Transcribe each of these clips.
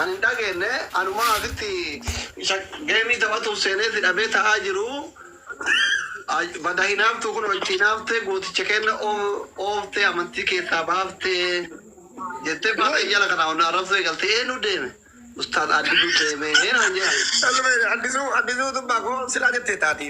Ani hin dhageenne anumaa asitti isa geemii taphatuuf seenee si dhabee ta'aa jiru bada hinaaftuu kunoo itti hinaaftee gooticha keenna ooftee amantii keessaa baaftee jettee faata iyyala kanaa ol na arrabsuu eegalte eenyu deeme ustaaz addisuu deeme naan jedhan. Addisuu addisuu dubbaa koo silaa jettee taati.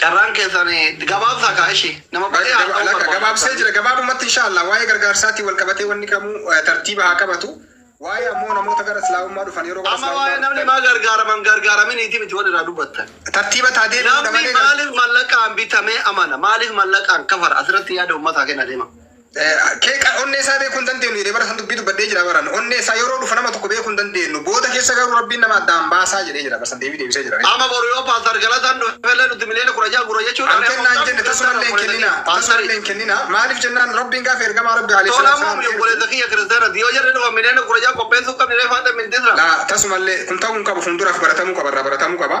Carraan keessan gabaabsaa kaa ishi nama baay'ee Lakka haasa'uu lakka barbaada gabaabsee jira isaanii. gabaabumatti inshaallah waa'ee gargaarsaatiin wal qabatee wanni kamuu eh, tartiiba haa qabatu waa'ee ammoo namoota gara islaamummaa dhufan yeroo gara Amma islaamummaa waa'ee namni dhufan maa gargaaraman gargaaraminiiti miti wal irraa dubbattan. tartiiba taa deebi'uudha Namni malee gar- maaliif mallaqaan bitamee amana? Maaliif mallaqaan kafara? Asirratti yaada uummataa kenna deema. Qeeqa onnee isaa beekuu hin dandeenyu jedhee bara san dubbii dubbadhee jira baran. Onnee isaa yeroo dhufa nama tokko beekuu hin dandeenyu. Booda keessa garuu rabbiin nama addaan baasaa jedhee jira bara san deebii deebisee jira. Ama boru yoo pastor galataan dhufellee nuti miliyoona kudha ja'a gura jechuudha. An kennaa hin jenne tasumallee hin kennina. Tasumallee hin kennina. Maaliif jennaan rabbiin gaafa ergamaa rabbi alayhi salaatu salaam ergu. Tola obboleessa kiyya kiristaanati yoo jarri dhufan miliyoona kudha ja'a qopheessuu qabniree faata miltisra. Laa tasumallee kun ta'uu hin qabu fuulduraaf baratamuu qaba irraa baratamuu qaba.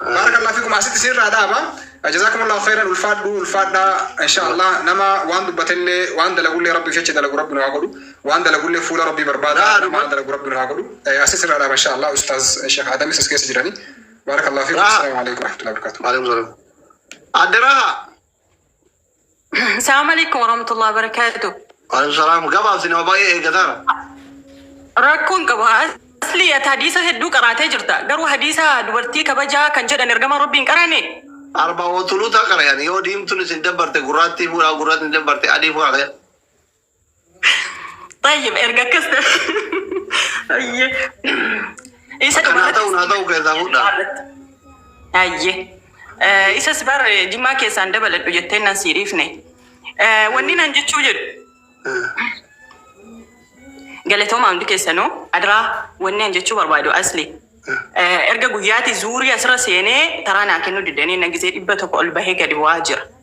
Baarakallah fikum asitti siirraa dhaaba jazakumullah khairan ulfaadhu ulfaadhaa inshaallah nama waan dubbateellee waan dalagullee rabbiif jecha dalagu rabbi nu haa godhu waan dalagullee fuula rabbii barbaada nama waan dalagu rabbi nu haa godhu asitti sirraa dhaaba inshaallah ustaaz sheekh aadamis as keessa jirani baarakallah fikum assalaamu alaikum warahmatullahi wabarakatuh Maalum zolum. Adde Raha. Assalamu alaikum warahmatullahi wabarakatuh. Waalaikum salaam. Gabaabsi nama baay'ee eeggataara. Rakkoon qabu asli ati hadiisa hedduu qaraatee jirta. Garuu hadiisa dubartii kabajaa kan jedhan ergama Rabbiin qaraane. Arba ootuluutaa qarayan yoo diimtuun isin dabbarte gurraattii fuudhaa gurraattiin dabbarte adii fuudhaa. Baay'ee erga akkas ta'e. Baay'ee. Isa Kan haa ta'u naa ta'u keessaa fuudhaa. Baay'ee. Isas bar jimmaa keessaan dabaladhu jettee nan sii dhiifne. Eh, Wanni nan jechuu jedhu galatooma hundi keessanuu adraa wanni an jechuu barbaadu asli. Eh, Erga guyyaati zuurii asirra seenee taraa naa kennuu didanii na gisee dhibba tokko ol bahee gadi bu'aa jira.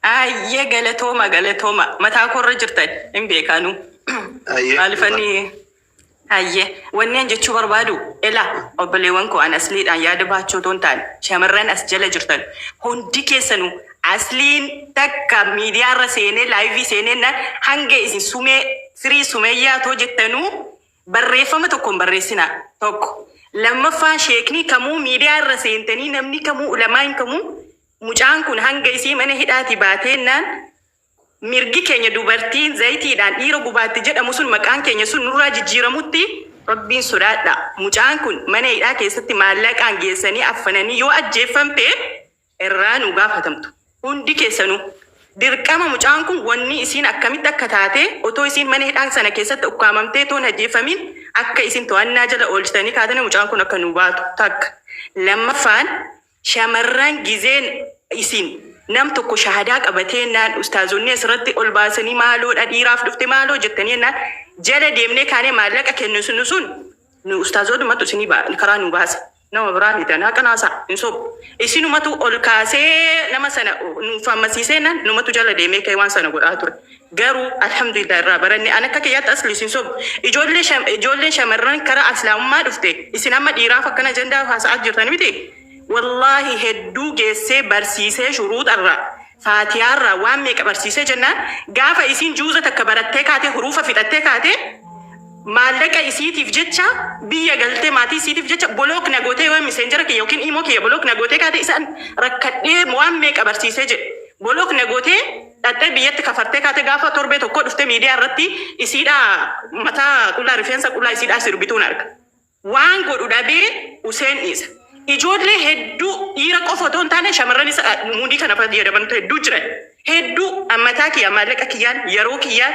Hayyee galatooma galatooma mataa koo irra jirtan hin beeka anuu Hayyee maalifan dhugaa. hayyee wanni an jechuu barbaadu ela obboleewwan koo an asliidhaan yaada baachuu otoo hin taane shamarran as jala jirtan hundi keessanuu asliin takka miidiyaa irra seenee laayivii seenee na hanga isin sumee firii sumeeyyaa otoo jettanuu barreeffama tokko hin barreessinaa tokko lammaffaa sheeknii kamuu miidiyaa irra seentanii namni kamuu ulamaan kamuu Mucaan kun hanga isii mana hidhaatii baateennaan mirgi keenya dubartiin zayitiidhaan dhiira gubaatti jedhamu sun maqaan keenya sun nurraa jijjiiramutti Rabbiin sodaadhaa. Mucaan kun mana hidhaa keessatti maallaqaan geessanii affananii yoo ajjeeffamte irraa nuu gaafatamtu. Hundi keessanuu. Dirqama mucaan kun wanni isiin akkamitti akka taate otoo isiin mana hidhaa sana keessatti ukkaamamtee too hin ajjeeffamiin akka isiin to'annaa jala oolchitanii kaatanii mucaan kun akka nuu baatu takka. Lammaffaan. Shamarran gizeen isin nam tokko shahadaa qabatee jennaan ustaazonni asirratti ol baasanii maaloo dha dhiiraaf dhufte maaloo jettanii jennaan jala deemnee kaanee maallaqa kennisnu sun nu ustaazoodhumatu isinii ba- karaa nu baasa nama biraa miti anaa qanaasaa hin sobu isinumatu ol kaasee nama sana nuuf hammasiisee jennaan numatu jala deemee ka'ee waan sana godhaa ture Garuu Alhamdulillah irraa baranne. An akka kiyyaatti asli isin sobu. Ijoollee sha ijoolleen shamarran kara aslaamummaa dhufte isin amma dhiiraaf akkan ajandaa haasa'aa jirtan miti. Wallaahi hedduu geessee barsiisee shuruuxarraa, faatiyaarraa waan meeqa barsiisee jennaan gaafa isiin juuza takka barattee kaatee huruufa fixattee kaatee maallaqa isiitiif jecha biyya galtee maatii isiitiif jecha bolook na gootee yoo miseenjera kiyya yookiin imoo kiyya bolook na gootee kaatee isaan rakkadhee waan meeqa barsiisee jedhe bolook na gootee Dhaxxee biyyatti kafartee kaate gaafa torbee tokkoo dhuftee miidiyaa irratti isiidha mataa qullaa rifeensa qullaa isiidhaa sirbituun arga. Waan godhu dhabee useen dhiisa. Ijoollee hedduu dhiira qofa otoo hin taane shamarranis a, muudii kana fayyadamantu hedduu jiran. Hedduu an mataa kiyya maallaqa kiyyaan yeroo kiyyaan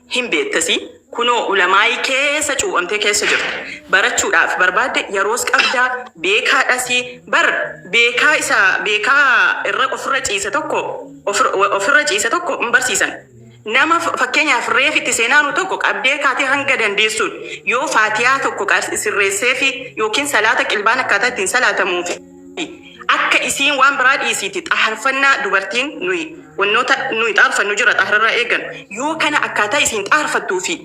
Hin beekta si kunoo ulamaa'ii keessa cuuphamtee keessa jirta. Barachuudhaaf barbaadde yeroos qabda, beekaadhas. Bar beekaa isa beekaa irra ofirra ciise tokko ofirra ciise tokko hin barsiisan. Nama fakkeenyaaf reef itti seenaanu tokko qabdee kaatee hanga dandeessuun yoo faatiyaa tokko sirreesseefi yookiin salaata qilbaan akkaataa ittiin salaatamuufi. Akka isiin waan biraa dhiisiiti xaharfannaa dubartiin nuyi wannoota nuyi xaarfannu jira xahrarraa eegan yoo kana akkaataa isiin xaharfattuu fi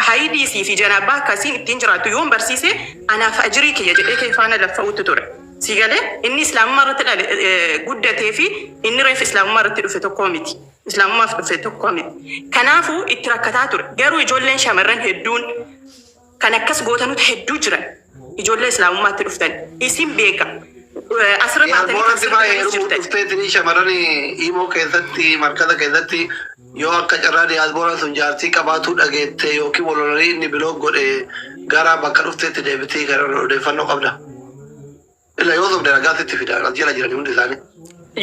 hayidii sii fi janaabaa akka isiin ittiin jiraattu yoon barsiise anaaf ajrii kiyya jedhee kee faana laffa'uutti ture. Sii galee? Inni islaamummaa irratti dhale guddatee fi inni reef islaamummaa irratti dhufe tokkoo miti. Islaamummaaf dhufe tokkoo miti. Kanaafu itti rakkataa ture. Garuu ijoolleen shamarran hedduun. Kan akkas gootanut hedduu jiran ijoollee islaamummaatti dhuftan isin beeka asirra Yaa baatanii kan Boora Dibaa sirbitanis heerumuuf jirtan. dhufteetini shamarran Imo keessatti markaza keessatti yoo akka carraa diyaasbooraan sun jaartii qabaatuu dhageette yookiin wal lolanii inni bilook godhe gara bakka dhufteetti deebitii kan odeeffannoo qabda. Ila yoo sobde ragaa sitti fida. As jala jirani hundi isaanii.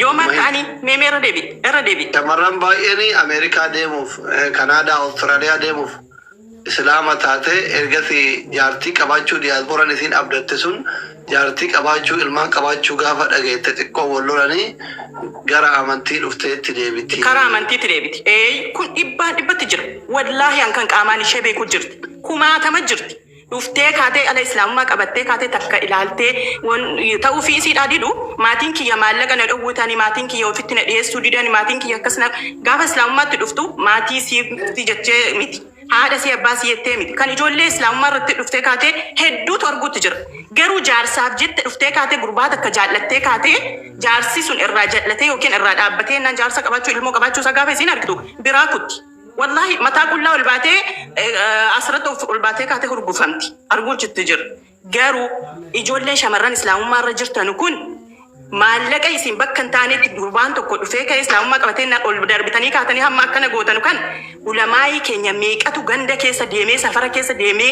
Yoom akka ani meemee irra deebi irra deebi. Shamarran baay'een Ameerikaa deemuuf, eh, Kanaadaa, Awustiraaliyaa deemuuf Islaama taate, ergasi jaartii qabaachuu diyaasbooran isiin abdatte sun jaartii qabaachuu, ilmaan qabaachuu gaafa dhageette xiqqoo wal lolanii gara amantii dhufteetti deebiti. Karaa amantiitti deebiti. Eeyy kun dhibbaan dhibbatti jira. Wallaahi an kan qaamaan ishee beeku jirti. Kumaatama jirti. dhuftee kaatee dhala islaamummaa qabattee kaatee takka ilaaltee wan ta'uufii isiidhaa didu maatiin kiyya maallaqa na dhowwutani maatiin kiyya ofitti na dhiyeessuu didani maatiin kiyya akkas na gaafa islaamummaatti dhuftu maatii siifti jechee miti haadha sii abbaa sii jettee miti kan ijoollee islaamummaa irratti dhuftee kaatee hedduutu arguutti jira garuu jaarsaaf jette dhuftee kaatee gurbaa takka jaallattee kaatee jaarsi sun irraa jal'atee yookiin irraa dhaabbatee innaan jaarsa qabaachuu ilmoo qabaachuu isaa gaafa isiin argitu biraa kutti Wallaahi mataa qullaa ol baatee eh, eh, asirratti of ol baatee kaatee hurgufamti. Arguun chitti jira. Garuu ijoolleen shamarran islaamummaa irra jirtan kun maallaqa isin bakka hin taanetti gurbaan tokko dhufee ka'ee islaamummaa qabatee na- ol darbitanii kaatanii hamma akkana gootanu kan ulamaa'ii keenya meeqatu ganda keessa deemee safara keessa deemee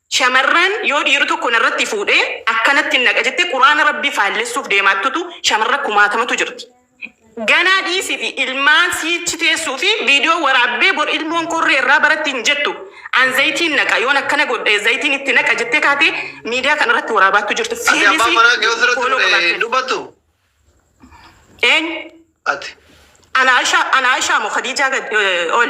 Shamarran yoo dhiiri tokko narratti fuudhe akkanattin naqa jette quraana rabbii faallessuuf deemaattutu shamarra kumaatamatu jirti ganaa dhiisifi ilmaan siichi teessuufi video waraabbee bor ilmoon korree irraa baratti hin jettu an zayitiin naqa yoon akkana godhe zayitiin itti naqa jettee kaatee miidiyaa kana irratti waraabaattu jirti Ati abbaa fiilisi manaa kee osirratti fooloo fudhe qabaatteetti dubbattu? eenyu Ati. ana Aisha ana Aisha mo Khadija gad eh, ol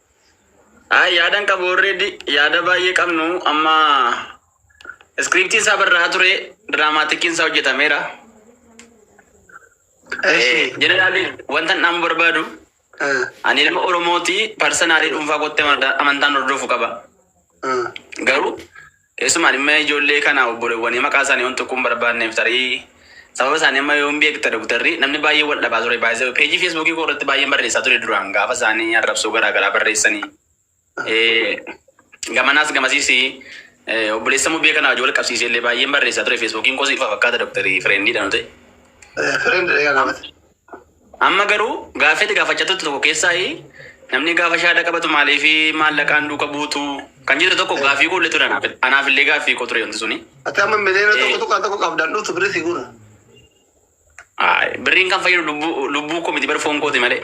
Ay yaadan qabu already yaada baay'ee qabnu amma iskiriiptiin isaa barraa ture diraamaatikiin isaa hojjetameera. Jeneraalii wanta dhaamu barbaadu ani ilma Oromooti parsanaalii dhuunfaa kootti amantaan hordofu qaba. Garuu Keessumaa dhimma ijoollee kana obbolewwanii maqaa isaanii wan tuquu hin barbaadneef tarii sababa isaanii amma yoom beekta Doktarri? Namni baay'een wal dhabaa ture by the way page Facebook koo irratti baay'een barreessaa ture duraan gaafa isaan arrabsoo garaa garaa barreessanii gamanaas gamasiis obboleessa mubee kana wajjin wal qabsiisee illee baay'een barreessaa ture Facebookiin koos ifa fakkaata Doktarri friendii dha nu ta'e. Friend dha yaa gaafate. Amma garuu gaaffii ati gaafachaa turte tokko keessaayi namni gaafa shaada qabatu maaliif maallaqaan duuka buutu kan jette tokko gaaffii koo illee ture anaaf anaaf illee gaaffii koo ture wanti suni. Ati amma miliyoona tokko Eh. tuqaa tokko qabdaan dhuftu birrii si guura. Aay, Birriin kan fayyadu lubbuu lubbuu koo miti bar foon kooti malee.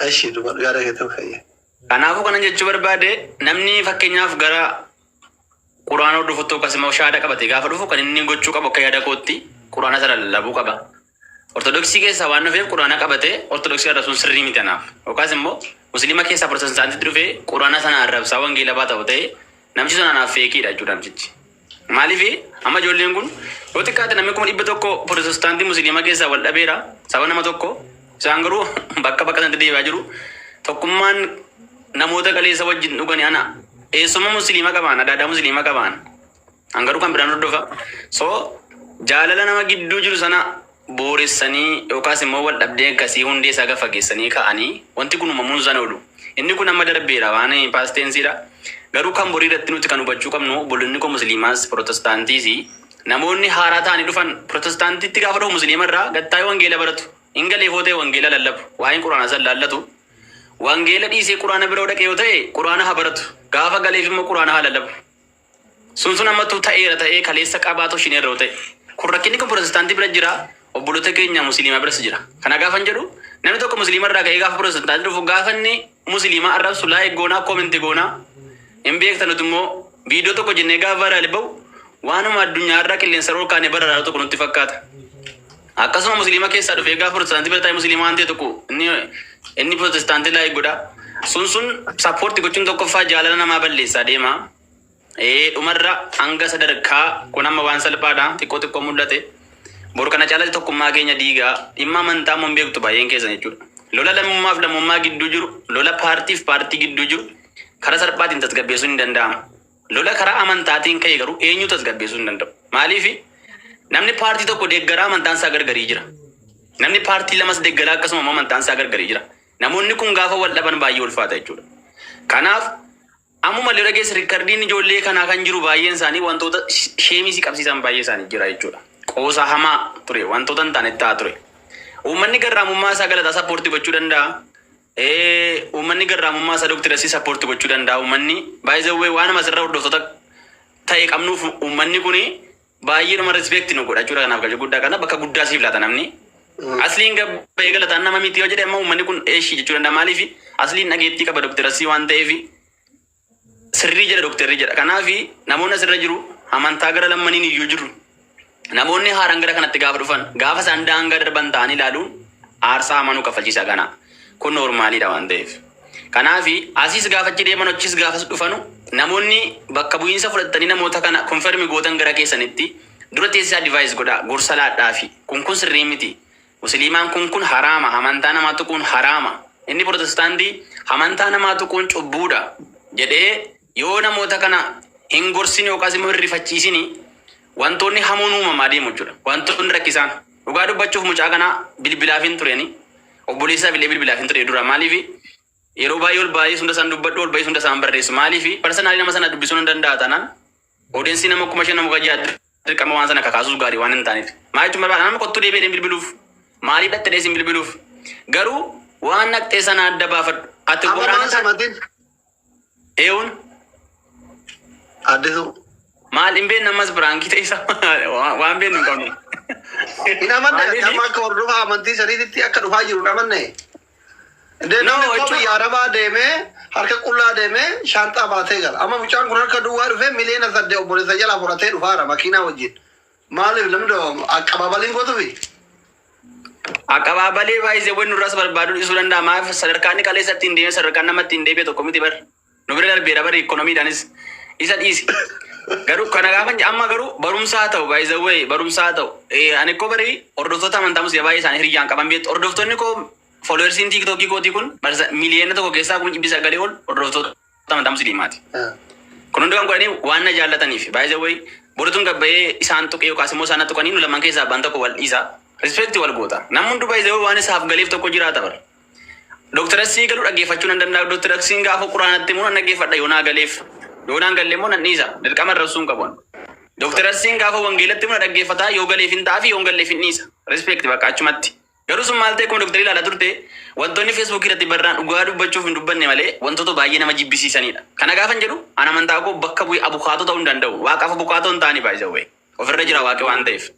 Eshi duba yaada kee ta'uu fayya. Kanaafuu kanan jechuu barbaade namni fakkeenyaaf gara quraana hordofutti yookaas immoo shaada qabate gaafa dhufu kan inni gochuu qabu akka yaada kootti quraana sana lallabuu qaba. Ortodoksii keessaa waan dhufeef quraana qabatee ortodoksii arrabsuun sirrii miti anaaf. Yookaas immoo musliima keessaa protestaantitti dhufee quraana sana arrabsaa wangeela baa ta'u ta'ee namichi sun anaaf feekiidha jechuudha namtichi. Maaliif amma ijoolleen kun yoo xiqqaate namni kuma dhibba tokko protestaantii musliima keessaa wal dhabeera saba nama tokko isaan garuu bakka bakka sanatti deebi'aa jiru. Tokkummaan namoota qaleessa wajjin dhugani ana eessumma musliima qabaan adaadaa musliima qabaan An garuu kan biraan hordofa. So jaalala nama gidduu jiru sana booressanii yookaas immoo wal dhabdee akkasii hundee isaa gad fageessanii ka'anii wanti kun uumamuun sana oolu. Inni kun amma darbeera waan paasteensiidha. Garuu kan borii irratti nuti kan hubachuu qabnu obbolonni koo musliimaas pirootestaantiis namoonni haaraa ta'anii dhufan pirootestaantiitti gaafa dhufu musliima irraa gattaa'ee wangeela baratu. Hin galee foo ta'e wangeela lallabu. Waa'een quraanaa san laallatu. Wangeela dhiisee quraana bira yoo dhaqe yoo ta'e quraana haa baratu. Gaafa galeef immoo quraana haa lallabu. Sun sun amma tu ta'eera ta'ee kaleessa qabaatu shin erroo ta'e. Kun rakkinni kun pirootestaantii bira jira, obboloota keenya musliimaa biras jira. Kana gaafan jedhu namni tokko musliima irraa ka'ee gaafa pirootestaantii dhufu gaafanni musliimaa arrabsu laayik goonaa koomenti goonaa hin beektan nuti immoo viidiyoo tokko jennee gaafa vaayiraali ba'u waanuma addunyaa irraa qilleensa irra ol kaanee bararaaru tokko nutti fakkaata. Akkasuma musliima keessaa dhufe egaa protestaantii bira taa'ee musliima waan ta'e tokko inni inni protestaantii laayik godha. Sun sun sappoorti gochuun tokkoffaa jaalala namaa balleessaa deema. Ee dhumarra hanga sadarkaa kun amma waan salphaadha xiqqoo xiqqoo mul'ate. Bor kana caalatti tokkummaa keenya diigaa dhimma amantaa immoo hin beektu baay'een keessan jechuudha. Lola lammummaaf lammummaa gidduu jiru, lola paartiif paartii gidduu jiru karaa salphaatiin tasgabbeessuun hin danda'amu. Lola karaa amantaatiin ka'e garuu eenyuu tasgabbeessuu hin danda'u. Maaliif? Namni paartii tokko deeggaraa amantaan isaa gargarii jira. Namni paartii lamas deeggaraa akkasuma immoo amantaan isaa gargarii jira. Namoonni kun gaafa wal dhaban baay'ee ulfaata jechuudha. Kanaaf ammuma lola keessa rikardiin ijoollee kanaa kan jiru baay'een isaanii wantoota sheemii si qabsiisan baay'ee isaanii jira jechuudha. Qoosaa hamaa ture wantoota hin taane ta'aa ture. Uummanni garraamummaa isaa galataa sappoortii gochuu danda'a. Ee uummanni garraamummaa isaa Dr. Yassiin support gochuu danda'a uummanni. By the way waanuma asirra hordoftoota ta'e qabnuuf uummanni kun baay'eedhuma respect nu godha jechuudha kanaaf galcha guddaa kana bakka guddaa siif laata namni. Asliin gabbayee galataan nama miti yoo jedhe amma uummanni kun eeshii jechuu danda'a maaliif asliin dhageettii qaba Dr. Yassii waan ta'eef sirrii jedha dokterri jedha. Kanaaf namoonni asirra jiru amantaa gara lammaniin iyyuu jiru. Namoonni haaraan gara kanatti gaafa dhufan gaafa isaan daangaa darban ta'anii ilaaluun aarsaa hamaa nu kaffalchiisa kana. Kun noormaaliidha waan ta'eef. Kanaaf asiis gaafa achi deeman achiis gaafas dhufanu namoonni bakka bu'iinsa fudhattanii namoota kana konfermi gootan gara keessanitti dura teessisaa divaayis godhaa gorsa laadhaafi kun kun sirrii miti Musiliimaan kun kun haraama, hamantaa namaa tuquun haraama, inni Protestaantii hamantaa namaa tuquun cubbuudha jedhee yoo namoota kana hin gorsini yookaas immoo hin rifachiisini wantoonni hamoon uumamaa deemu jechuudha. Wantoonni rakkisaan dhugaa dubbachuuf mucaa kana bilbilaaf hin tureni obboleessaaf illee bilbilaaf hin ture dura maaliif yeroo baay'ee ol baay'ee hunda isaan dubbadhu ol baay'ee hunda isaan barreessu maaliif parsanaalii nama sana dubbisuun hin danda'a taanaan Odensii nama kuma shan nama gajaa dirqama waan sana kakaasus gaarii waan hin taaneef. Maa jechuun barbaada nama kottuu deebi'ee hin bilbiluuf. Maaliif dhaqxe dhees hin bilbiluuf. Garuu waan dhaqxee sana adda baafadhu. Ati Amma godaana maal samatin? eewun Addisuu. maal hin beekne ammas biraankii ta'isa waan beeknu hin qabnu. Hin amanne Maaliif? amma akka hordofaa amantii saniititti akka dhufaa jiru hin amanne. Deemee qaba yaa rabaa deemee harka qullaa deemee shaanxaa baatee gala. Amma mucaan kun harka duwwaa dhufee miliyoona sadde obboleessa jalaa fudhatee dhufaara makiinaa wajjin. Maaliif namni doo aqabaabaliin gootufi? Aqabaabalii baay'isee wanni nurras barbaaduu dhisuu danda'a maaf sadarkaan inni kaleessa ittiin deemee sadarkaan nama ittiin deebi'e tokko miti bar. Nu bira darbeera bari ikkonomiidhaanis isa dhiisi. Garuu kana gaafa hin- amma garuu barumsaa ta'u by the way barumsaa ta'u Eh, ani koo bari hordoftoota amantaa musliimaa baay'ee isaanii hiriyyaan qaban beektu hordoftoonni koo followersiin tiiktookii kootii kun barsa miliyoona tokko keessaa kuma dhibbi sagalee ol hordoftoota amantaa musliimaati. Kun hundi kan godhanii waan na jaallataniif by the way borituun gabbayee isaan tuqee yookaas immoo isaan na tuqanii nu lamaan keessaa abbaan tokko wal dhiisa. Respect wal goota. Namni hunduu by the way waan isaaf galeef tokko jiraata bara. Doktar Asii galuu dhaggeeffachuu nan danda'a. Doktar Asiin gaafa quraanatti immoo nan dhaggeeffadha yoo naa galeef. Yoo naan galle immoo nan dhiisa. Dirqama arrabsuun qabuun. Doktar Asiin gaafa wangeelatti immoo na dhaggeeffata yoo galeef hin ta'aa fi yoo hin galleef hin dhiisa. Respect bakka achumatti. Garuu sun maal ta'e akkuma doktarii ilaalaa turte wantoonni feesbuukii irratti barraan dhugaa dubbachuuf hin dubbanne malee wantoota baay'ee nama jibbisiisanidha. Kana gaafa hin jedhu an amantaa koo bakka bu'ee abukaatoo ta'uu hin danda'u. Waaqaaf abukaatoo hin taane baay'ee ofirra jira waaqi waan ta'eef.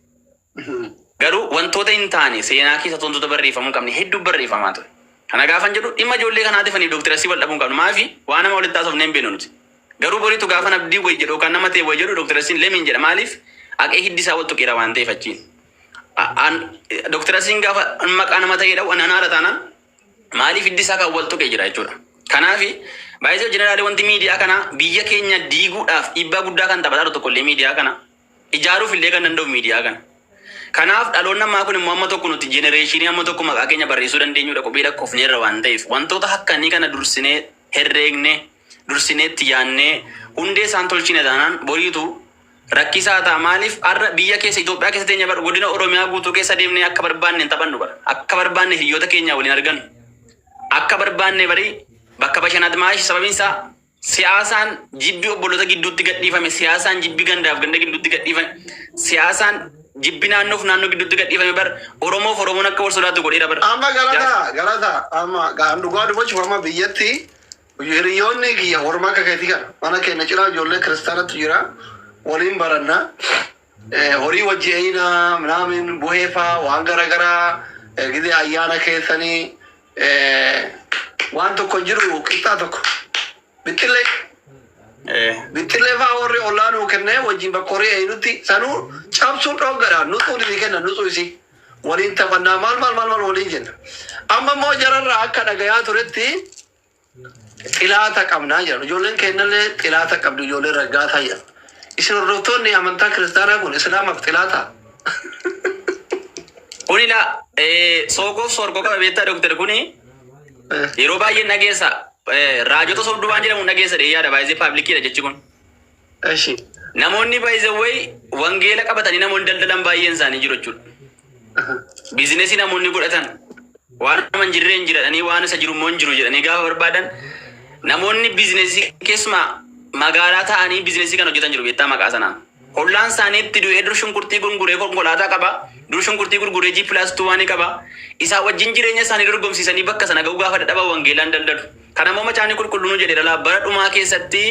Garuu wantoota hin taane seenaa keessatti wantoota barreeffamuu hin qabne hedduu barreeffamaa ture. Kana gaafan jedhu dhimma ijoollee kanaatif ani Dr. Asii wal dhabuu hin qabnu. Maafi waan hamaa walitti haasofnee hin beeknu nuti. Garuu boritu gaafan abdii wayi jedhu yookaan nama ta'e wayi jedhu Dr. Asiin lemiin jedha maaliif aqee hiddi isaa wal tuqeera waan ta'eef achiin. A- an- Dr. Asiin gaafa maqaa nama ta'ee dha'u anaan haala taanaan maaliif hiddi isaa kan wal tuqee jira jechuudha. Kanaafi baay'isoo jeneraalii wanti miidiyaa kana biyya keenya diiguudhaaf dhiibbaa guddaa kan taphataa jiru tokkollee miidiyaa kana ijaaruuf illee kan danda'u miidiyaa kana. Kanaaf dhaloonni ammaa kun immoo amma tokko nuti jenereeshinii amma tokko maqaa keenya barreessuu dandeenyudha qubee lakkofneerra waan ta'eef wantoota hakkanii kana dursinee herreegne dursinee itti yaannee hundee isaan tolchine taanaan boriitu rakkisaa ta'a maaliif har'a biyya keessa Itoophiyaa keessa teenya bar godina Oromiyaa guutuu keessa deemnee akka barbaanne hin taphannu bar akka barbaanne hiriyoota keenya waliin argannu akka barbaanne barii bakka bashanaat maashi sababiin isaa Siyaasaan jibbi obboloota gidduutti gadhiifame, siyaasaan jibbi gandaaf ganda gidduutti gadhiifame, siyaasaan jibbi naannoof naannoo gidduutti gadhiifame bar Oromoof Oromoon akka wal sodaatu godheera bar. Amma galata galata amma gaan dhugaa dubachuuf amma biyyatti hiriyoonni kiyya warma akka keetii kana mana keenya ciraa ijoollee kiristaanatu jira waliin baranna horii wajji eeyina minaamin buheefaa waan garagaraa gidee ayyaana keessanii Waan tokko jiru qixxaa tokko. Bixxillee. Bixxillee fa'aa warri ollaa nuu kennee wajjin bakka horii eeynutti sanuu cabsuun dhooggadha. Nuxuun itti kenna nuxuu isii. Waliin taphannaa maal maal maal maal waliin jenna. Amma immoo jararraa akka dhagayaa turetti Xilaata qabna jedhan. Ijoolleen keennallee xilaata qabdu ijoollee raggaataa jedhan. Isin hordoftoonni amantaa kiristaanaa kun islaamaaf xilaata? Kuni la eh, soogoof soorgoo qaba beektaa doktar kuni Eh, yeroo baay'een dhageessa eh, raajota sobduu waan jedhamu dhageessa dheeyyaadha baay'ee paablikiidha jechi kun. Eshi namoonni by the way wangeela qabatanii namoonni daldalan baay'een isaanii jiru jechuudha. Biizinesii namoonni godhatan waan nama hin jirreen jiradhanii waan isa jiru immoo hin jiru jedhanii gaafa barbaadan namoonni biizinesii keessumaa magaalaa ta'anii biizinesii kan hojjetan jiru beektaa maqaa sanaan. Hollaan isaanii itti du'ee dur shunkurtii gurguree konkolaataa qaba. Dur shunkurtii gurguree G plus 2 waan qaba. Isaa wajjin jireenya isaanii dorgomsiisanii bakka sana ga'uu gaafa dadhaban wangeelaan daldalu. Kana immoo Macaafni Qulqulluun nu jedheera laa, bara dhumaa keessatti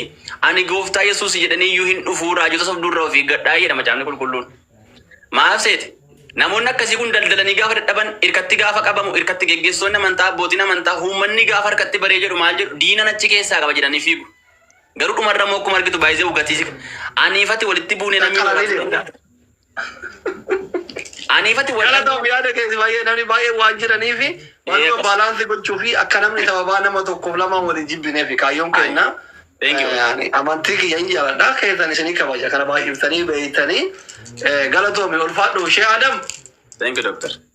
ani gooftaa Yesuus jedhanii iyyuu hin dhufuu, raajota sobduu irraa of eeggadhaa jedha Macaafni Qulqulluun. Maaf seete? Namoonni akkasii kun daldalanii gaafa dadhaban, irkatti gaafa qabamu, irkatti geggeessitoonni amantaa, abbootiin amantaa, uummanni gaafa harkatti baree jedhu maal jedhu? Diinan achi keessaa qaba jedhanii fiigu. Garuu dhumarra immoo akkuma argitu baay'ee gatiisif aniifati walitti buunee namni Qaqqalanii waraabsuu deemu. danda'a. Aniifati wal Galatoom arguu yaada keeti baay'ee namni baay'een waan jiraniifi Ee, waanuma qos- baalaansii gochuu fi akka namni sababaa nama tokkoof lamaan wal hin jibbinee fi kaayyoon Ayi. keenna Thank you. eh, ani amantii kiyya hin jaaladha keessan isinii kabaja kana baay'iftanii beeytanii eh, galatoomi ulfaadhu ishee Adam Thank you, Doctor.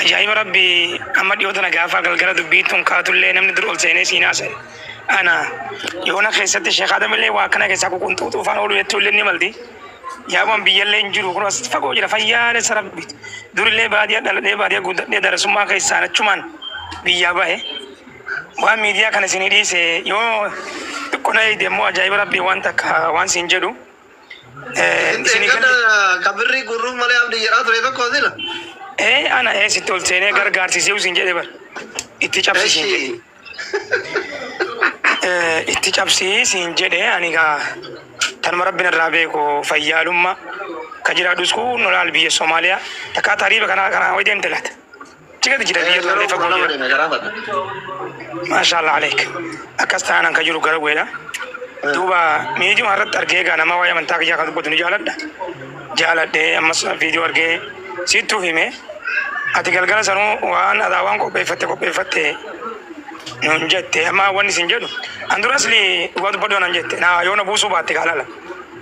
Ajaa'iba Rabbii! Amma dhiyoo tana gaafa galgala dubbiin tun kaatullee namni dur ol seenee siin haasa'e ana. Yoona keessatti Sheek Aadamillee waa akkana keessaa ququnxuuxuu faan ooluu jettuulleen ni malti. Yaabumaan biyyallee hin jiru kunoo asitti fagoo jira fayyaalessa Rabbiiti. Durillee baadiyaa dhaladhee baadiyaa guddadhee darasummaa keessaan achumaan biyyaa bahe. Waan miidiyaa kana isinii dhiise yoo xiqqoo na eegde immoo ajaa'iba Rabbii waan takka waan siin jedhu. Isin kan kabirrii gurruuf malee abdi jedhaa ture tokko sila. Ee ana ee sitti ol seenee gargaarsisee usin jedhe bar. Itti cabsisiin jedhe. Itti cabsii siin jedhe ani gaa tanuma rabbiin irraa beeku fayyaalummaa ka jiraadhus kun nolaal biyya Somaaliyaa takkaa tariiba kana kana ho'i deemte laata. Tiketi jira biyya tana lefa goona deeme garaa fata. Maashaallah aleek. Akkas taanaan ka jiru gara weedha. Duuba miidiyuma irratti argee egaa nama waa'ee amantaa kiyyaa kan dubbatu ni jaaladha. Jaaladhee ammas viidiyoo argee siittuu hime. Ati galgala sanuu waan adaa waan qopheeffatte qopheeffatte nuun jette amma wanni isin jedhu an duras dhugaa dubbadhu anan jette naa yoo na buusuu baatte gaalala.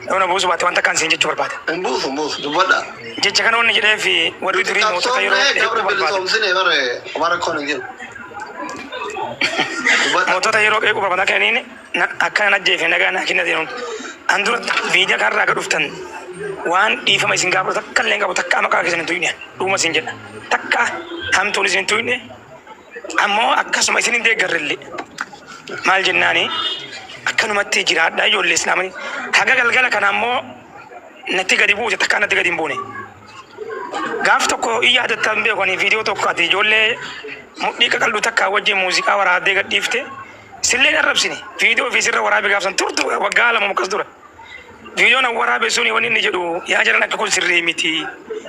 Yoo na buusu baatte waan takkaan siin jechuu barbaada. Hin buusu hin buusu dubbadha. Jecha kana wanni jedheef warri Nuti durii mootota yeroo qabsoomnee beekuu qabri barbaada. bilisoomsine bare waan rakkoon hin jiru. Dubbadha. Mootota yeroo qeequu barbaada akka inni na- akka nan ajjeefne nagaa naa kenna jedhuun. An dura biyya kanarraa akka dhuftan waan dhiifama isin gaafatu takka illee hin qabu takka maqaa keessan hin tuqne dhuguma isin jedha. Takka hamtuun isin hin tuqne Ammo akkasuma isin indeeggarrelle. Maal jennaani? Akkanumatti jiraadhaa ijoollee Islaamani. Haga galgala kana ammoo natti gadi buute takkaa natti gadi hin buune. Gaaf tokko in yaadatta hin beeku ani viidiyoo tokko ati ijoollee mudhii qaqal'u takkaa wajjin muuziqaa waraabdee gadhiifte. Sillee hin arrabsine. Viidiyoo fi sirra waraabe gaaf san turtu waggaa lama akkas dura. Viidiyoon an waraabe suni wanni inni jedhu yaa jaran akka kun sirrii miti.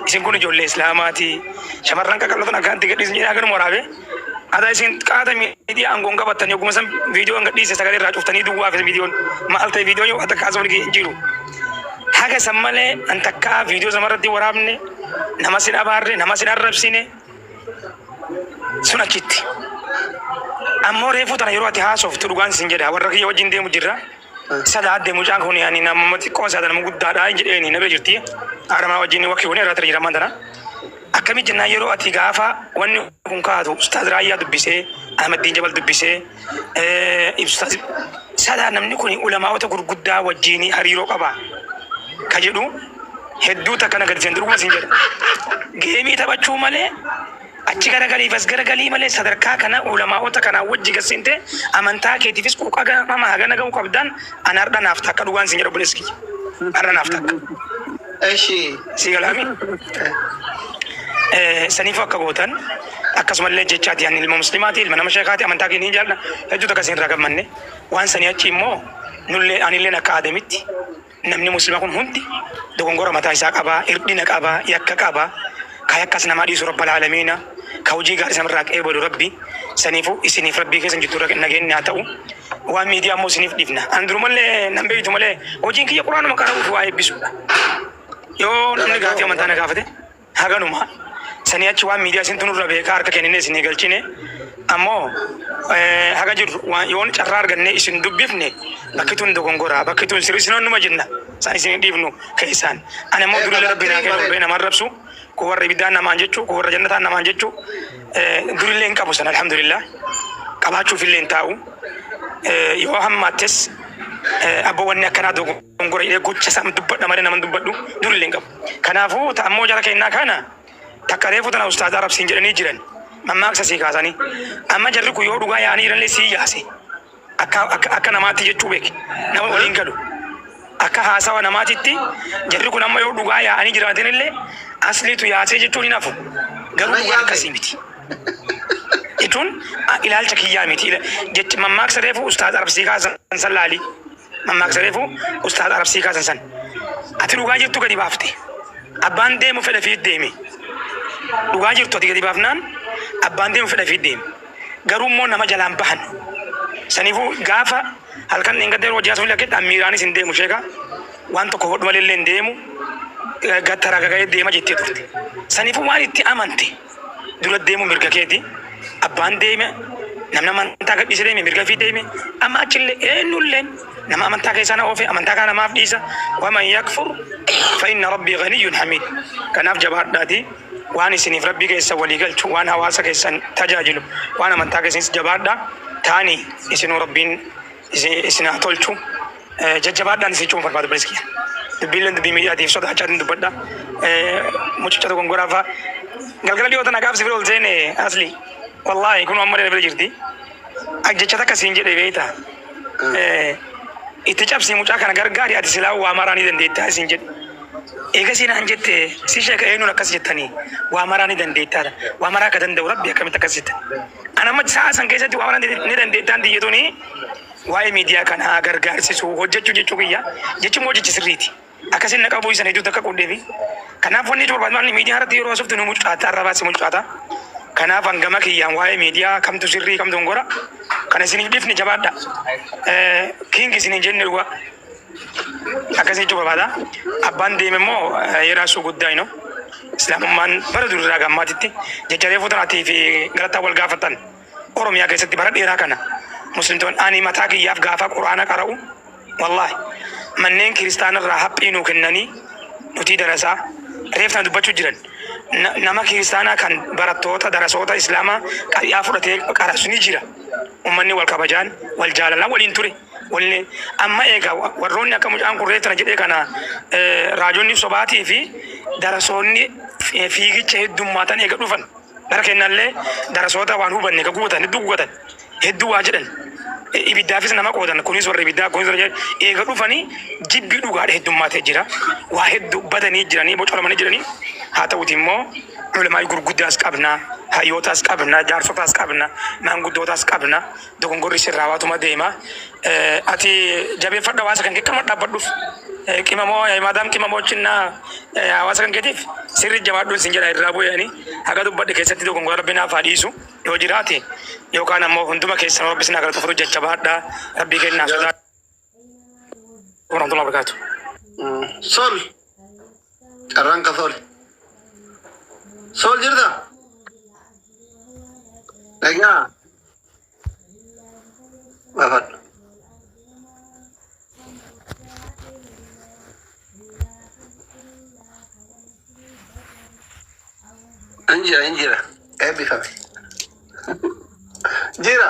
Isin kun ijoollee Islaamaati. Shamarran qaqallotan akkanatti gadhiisin jedhee haganuma waraabe. Ada isin qaata miidiyaa aangoon qabattan yogguma san viidiyoon gadhiise sagalee irraa cuftanii duwwaa fi viidiyoon maal ta'e viidiyoon yoo waan takka haasofni kiyya hin jiru. Haga san malee an takkaa viidiyoo sama irratti waraabne nama sin abaarre nama sin arrabsine sun achitti. Ammoo reefuu tana yeroo ati haasoftu dhugaan sin jedha warra kiyya wajjin deemu jirra. Sadaa adde mucaan kun ani nama xiqqoo saada nama guddaadha hin jedheeni na bira jirti haadhamaa wajjin wakki kun irraa tiriiraman tana akkamii jennaan yeroo ati gaafa wanni kun kaatu ustaaz raayyaa dubbisee ahmaddiin jabal dubbisee ibsustaaz sadaa namni kun ulamaawota gurguddaa wajjin hariiroo qaba ka jedhu hedduu takka na gadiseen durguma sin jedha geemii taphachuu malee Achi garagaliif as garagalii malee sadarkaa kana ulamaa'ota kanaa wajji gad seentee amantaa keetiifis quuqama hagana gahuu qabdaan an hardha naaf takka dhugaan siin jedha obboleessa kiyya hardha naaf takka Eshi. sii galaami saniifuu akka gootan akkasumallee jechaati ani ilma muslimaati ilma nama sheekaati amantaa keenya hin jaalladha hedduu takka isin irraa gammanne waan sanii achi immoo nullee anilleen akka aadamitti Namni muslima kun hundi dogongora mataa isaa qaba, irdhina qaba, yakka qaba, ka yakkas namaa dhiisu rabbal aalamiina, ka hujii gaaris namarraa qeebalu rabbi, saniifu isiniif rabbii keessan jidduurra nageenni haa ta'u, waan miidiyaa ammoo isiniif dhiifna, an durumallee nan beeytu malee hojiin kiyya quraanuma qara'uufi waa eebbisuudha, yoo namni gaafii amantaa na gaafate. Haganuma. Sanii achi waan miidiyaa isintu nurra beeka harka kennine isin eegalchine. Ammoo haga jirru waan yoon carraa arganne isin dubbifne bakki tun dogongora bakki tun sirri isin onnuma jenna. San isin hin dhiifnu keessaan. Ani ammoo durillee rabbi naa kennu rabbi nama arrabsu kun warra ibiddaan namaan jechu kun warra jannataan namaan jechu durillee hin qabu san alhamdulillah. Qabaachuufillee hin taa'u. Yoo hammaattes abboo wanni akkanaa dogongora jedhee gocha isaan dubbadha malee nama hin dubbadhu durillee hin qabu. Kanaafu ta ammoo jara keennaa kaana takka reefu tana ustaaza arab siin jedhanii jiran mammaaksa sii kaasanii amma jarri kun yoo dhugaa yaa'anii jiranillee sii yaase akka akka akka namaatti jechuu beeki nama waliin galu akka haasawa namaatitti jarri kun amma yoo dhugaa yaa'anii jiraatinillee asliitu yaasee jechuun hin hafu garuu dhugaan akkasii miti. jechuun ilaalcha kiyyaa miti jecha mammaaksa reefu ustaaza arab sii kaasan san laalii. mammaaksa reefu ustaaz arabsii kaasan san ati dhugaa jirtu gadi baafte abbaan deemu fedha fiit deeme dhugaa jirtu ati gadi baafnaan abbaan deemu fedha fiit deeme garuu immoo nama jalaan bahan saniifuu gaafa halkan dheengadda yeroo hojjaa sun lakketti ammiiraanis hin deemu sheeka waan tokko godhu malee illee hin deemu gattara gaga'ee deema jettee turte saniifuu waan itti amante dura deemu mirga keeti. Abbaan deeme namni amantaa gadhiise deeme mirga fi deeme amma achillee eenyulleen nama amantaa keessaa na oofe amantaa kana namaaf dhiisa waman yakfur fa'inna rabbii ganiyyun hamiid kanaaf jabaadhaati waan isiniif rabbii keessa walii galchu waan hawaasa keessan tajaajilu waan amantaa keessanis jabaadha taani isinuu rabbiin isin haa tolchu. Eh, Jajjabaadhaan isin jechuun barbaada bilis kiyya. Dubbiilleen dubbii miidiyaatiif sodaachaatiin dubbadha. Eh, Mucicha tokkon goraa fa'a. Galgala dhiyoo tana gaaf si bira ol seene asli. Wallaahi kun amma na bira jirti. Ak jecha takka siin jedhe beekta. Eh, Itti cabsii mucaa kana gargaari ati silaa waa maraa ni dandeettaa siin jedhe. Eegasii naan jette si sheeka eenyuun akkas jettanii waa maraa ni dandeettaadha. Waa maraa akka danda'u rabbi akkamitti akkas jette. An amma sa'a san keessatti waan danda'e ni dandeettaan tiyya tuni waa'ee miidiyaa kanaa gargaarsisuu hojjechuu jechuu kiyya jechi immoo jechi sirriiti. Akkasiin na qabuu isan hedduutti akka qoodee fi kanaaf wanni jechuun barbaadu maanni miidiyaa irratti yeroo haasoftu nu mucucaata arrabaa si mucucaata. Kanaaf hangama kiyyaan waa'ee miidiyaa kamtu sirrii kamtu hin gora kana isiniif dhifne jabaadha. Kiingi isiniin jenne dhugaa. Akkasii jechuu barbaada. Abbaan deeme immoo yeraa suu guddaa ino. Islaamummaan bara durirraa gammaatitti jecha reefuu tanaatii fi galataa wal gaafatan Oromiyaa keessatti bara dheeraa kana muslimtoon ani mataa kiyyaaf gaafaa quraana qara'u wallaahi manneen kiristaanarraa haphii nuu kennanii nutii darasaa reef tana dubbachuu jiran Na- nama kiristaanaa kan barattoota darasoota islaamaa qari'aa fudhatee qarasu ni jira ummanni wal kabajaan wal jaalalaan waliin ture Wly amma eega warroonni akka mucaan kun reetra jedhe kana raajonni sobaatii fi darasoonni fiigicha heddummaatan eega dhufan bara kennallee darasoota waan hubanne ka gubatan hedduu gugatan hedduu waa jedhan ibiddaafis nama qoodan kunis warra ibiddaa kunis warra eega dhufanii jibbii dhugaadha heddummaatee jira waa hedduu badanii jiranii bocoramanii jiranii haa ta'uti immoo ulamaa'ii gurguddaas qabna hayyootaas qabna jaarsotaas qabna maanguddootaas qabna Dogongorri sirraa waatuma deema. Ati jabeeffadhu hawaasa kan keetti dhaabbaddhuuf. Qimamoo maadaam qimamoo chinna hawaasa kan keetiif sirri jabaadhuun sin jedha irraa bu'e ani haga dubbadhe keessatti dogongora rabbi naaf haa dhiisu yoo jiraate yookaan ammoo hunduma keessan rabbi sin haa galatu furu jajjabaadha rabbii kennaa sodaadha. warahmatullahi wabarakatuh. Sol. Carraan ka sol. Sol jirta? Dhagaa. Baafadhu. Hin jira hin jira. Eebbifame. Jira.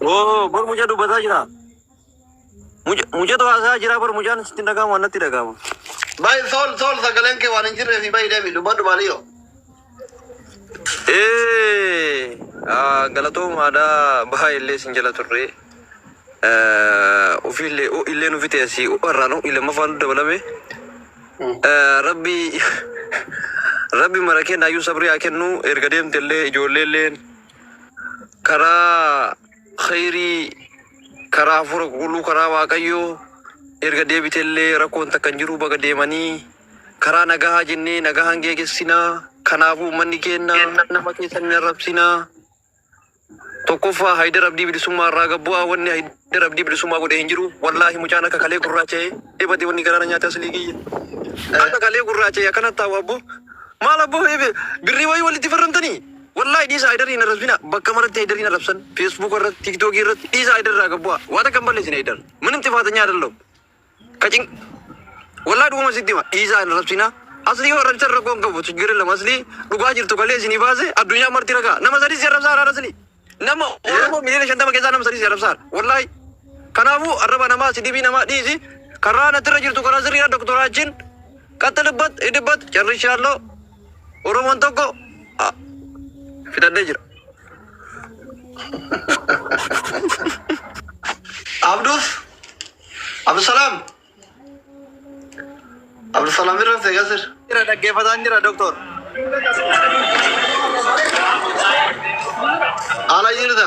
Oo bor mucaa dubbataa jira. Muca- Mucatu haasaa jira bor mucaan sitti hin dhaga'amu waan natti dhaga'amu. Bayi sool sool sagaleen kee waan hin jirree fi bayi deemi dubbadhu maaliyoo. Ee ah, galatoomaadha baay'ee illee sin jala turre. Eh, Ofii illee oh, illee nufi ta'e si oh, irraa nu illee mafaan nu dabalame. Eh, Rabbi rabbi mara kennaayyuu sabrii haa kennu erga deemte illee ijoollee illee karaa khayrii karaa hafuura qulqulluu karaa waaqayyoo erga deebitellee rakkoon takka hin jiru baga deemanii karaa nagahaa jennee nagahaan geegessinaa kanaafuu ummanni keenna nama keessan hin arrabsinaa tokkoffaa haydar abdii bilisummaa irraa gabbu'aa wanni haydar abdii bilisummaa godhe hin jiru wallaahi mucaan akka kalee gurraacha'e dhibate wanni garaana nyaate aslii kiyya akka kalee gurraacha'e akkana taa'u abbo maal abbo birrii wayii walitti farramtanii Wallahi dhiisa Haydar hin arrabsina bakka maratti Haydarin arrabsan Facebook irratti TikTok irratti dhiisa Haydar irraa gad bu'a waa takka hin balleessine Haydar minim xifaatanya adallam ka cin wallahi dhuguma sitti hima dhiisa hin arrabsina asli yoo arrabsan rakkoo hin qabu chiggir illam asli dhugaa jirtu kalee isinii baase addunyaa marti ragaa nama sadii si arrabsaa haadha asli nama oromoo miliyoona shantama keessaa nama sadii si arrabsaa wallahi kanaafuu arraba namaa si dhibii namaa dhiisi karaa natirra jirtu karaa sirriidha doktoraa achiin qaxxilibbat hidhibbat carrishaalloo Oromoon tokko ah, fixadhee jira. Abduuf Abdusalaam Abdusalaam irra ta'e gasir. Jira dhaggeeffataan jira doktor. Haala jirta.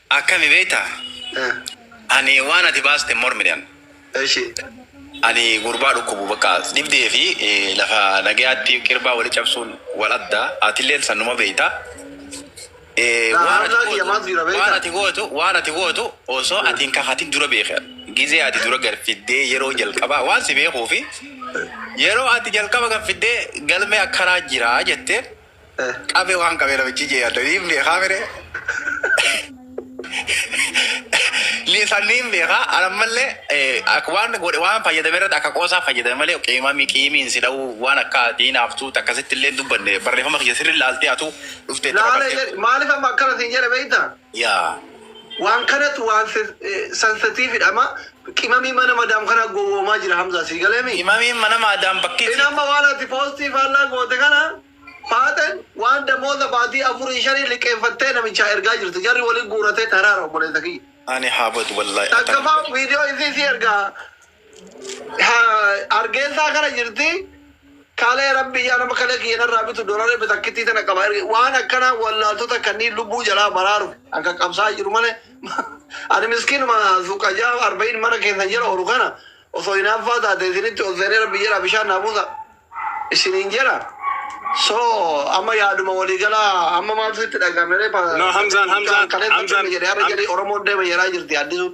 Akkami beekta? Eh, Ani waan ati baaste hin mormine an. Eshi. Ani gurbaa dhukkubu bakka dhibdee fi eh, lafa nagayaatti qirbaa wali cabsuun wal adda. Atilleen sannuma beekta. Eh, Naa waan ati haamnaa kiyya gootu- maaltu jira beekta? waan ati gootu waan ati gootu osoo ati hin kakatin dura beeka. Gizee ati dura galfiddee yeroo jalqabaa waan si beekuu fi yeroo ati jalqaba galfiddee galmee akkanaa jira jettee Qabe waan qabe namichi jee yaadda niin beekaa mire lisan niin beekaa anammallee eh, ak- waan godhe waan fayyadame irratti akka qoosaa fayyadame malee qiimami qiimiin si dha'uu waan akka diinaaftuu takkasitti illee hin dubbanne barreeffama kiyya sirri laaltee atuu dhuftee itti Laala fakkattee jedhe maaliif amma akkana siin jedhe beektaa? Yaa Waan kanatu waan sensitive dha ma qimamii mana madam kana gowoomaa jira hamzaa sii galee mii. Qimamiin mana maadaam bakkiti. In amma waan ati poostii faallaa goote kana faaxen waan damooza baatii afurii shanii liqeeffattee namichaa ergaa jirti jarri wali guuratee taraara obboleessa kiyya. Ani haa badu wallaahi atan. Takkafaa video isii sii ergaa. Hargeessaa kana jirti kalee rabbi yaa nama kalee kiyya narraa bitu doolarii bitakkittii tana qaba waan akkana wallaaltota kanneen lubbuu jalaa baraaru an kan qabsaa jiru malee ani miskiinuma suuqa jaa arba'in mana keessan jala oolu kana osoo hinaaffaa taate isinitti ol seenee rabbi jedha bishaan naa buusa isiniin jedha so amma yaaduma walii galaa amma maaltu itti dhaga'ame ree No, Hamzaan, Hamzaan, kalee Hamzaan, jedhe har'a jedhe Oromoon deema jedhaa jirti addisuun.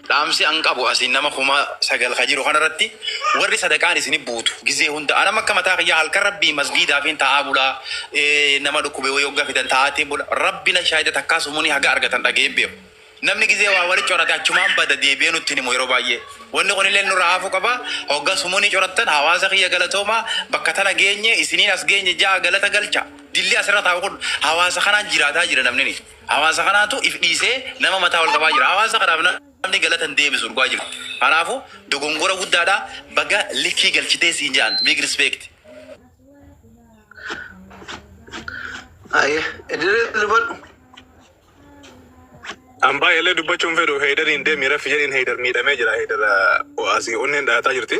Dhaamsi an qabu asiin nama kuma sagal ka jiru kanarratti warri sadaqaan isini buutu gizee hunda anam akka mataa kiyyaa halkan rabbii masgiidaafiin taa'aa bulaa nama dhukkube wayii hogga fidan taa'aatiin bula rabbi na shaahida takkaa sumuni haga argatan dhaga'ee hin beeku namni gizee waa wali corate achumaan bada deebi'ee nutti hin himu yeroo baay'ee wanni kunilleen nurra haafuu qaba hogga sumuni corattan hawaasa kiyya galatoomaa bakka tana geenye isiniin as geenye ja'a galata galcha dilli asirra taa'u kun hawaasa kanaan jiraataa jira namnini Hawaasa kanaatu if dhiisee nama mataa ol qabaa jira. Hawaasa kanaaf namni galata hin deebisu dhugaa jiru. Kanaafu dogongora guddaadha. Baga likkii galchitee siin jedhan. Big respect. Aye, edere dubadhu. An baay'eellee dubbachuun fedhu Heydariin deemii raffi jedhiin Heydar miidhamee jira. Heydar asii onneen dhaataa jirti.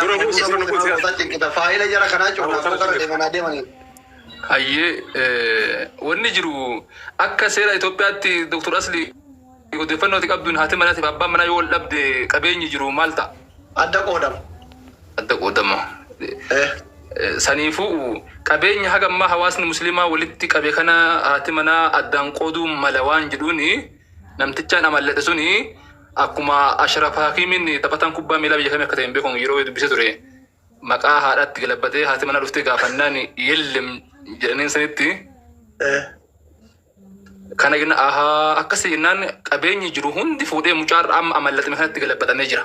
Dura bu'u sirna bu'u siyaasa. Faayila jara kanaa cufa akka gara deemanaa deemanii. Hayyee wanni jiru akka seera Itoophiyaatti Dr. Asli odeeffannoo ati qabduun haati manaatiif abbaan manaa yoo wal dhabde qabeenyi jiru maal ta'a? Adda qoodama. Adda qoodama. Saniifuu qabeenya haga ammaa hawaasni musliimaa walitti qabe kana haati manaa addaan qooduu mala waan jedhuuni Namtichaan amalladhe suni akkuma Ashraf Hakimin taphatan kubbaa miilaa biyya kamii akka ta'e hin beeku yeroo dubbise ture. Maqaa haadhaatti galabbatee haati mana dhuftee gaafannaan yellem jedhaniin sanitti kana jenna ahaa akkasii jennaan qabeenyi jiru hundi fuudhee mucaarra amma amallaxime kanatti galabbatamee jira.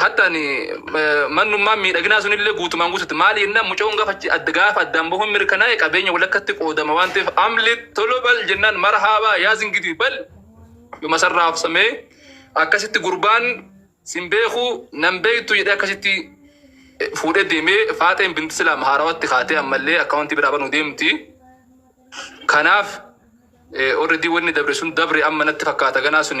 Hatta ani mannummaan miidhaginaa sunillee guutumaan guututti maali jennaan mucayoon gaafa achi adda gaafa addaan bahuun mirkanaa'e qabeenya walakkatti qoodama waan ta'eef amlit tolo bal jennaan marhaabaa yaaz ingidii bal yoma san raabsamee akkasitti gurbaan sin beeku nan beektu jedhee akkasitti fuudhee deemee faaxeen binti silaam haarawatti kaatee ammallee akkaawuntii biraa banuu deemti. Kanaaf already wanni dabre sun dabre amma natti fakkaata ganaa sun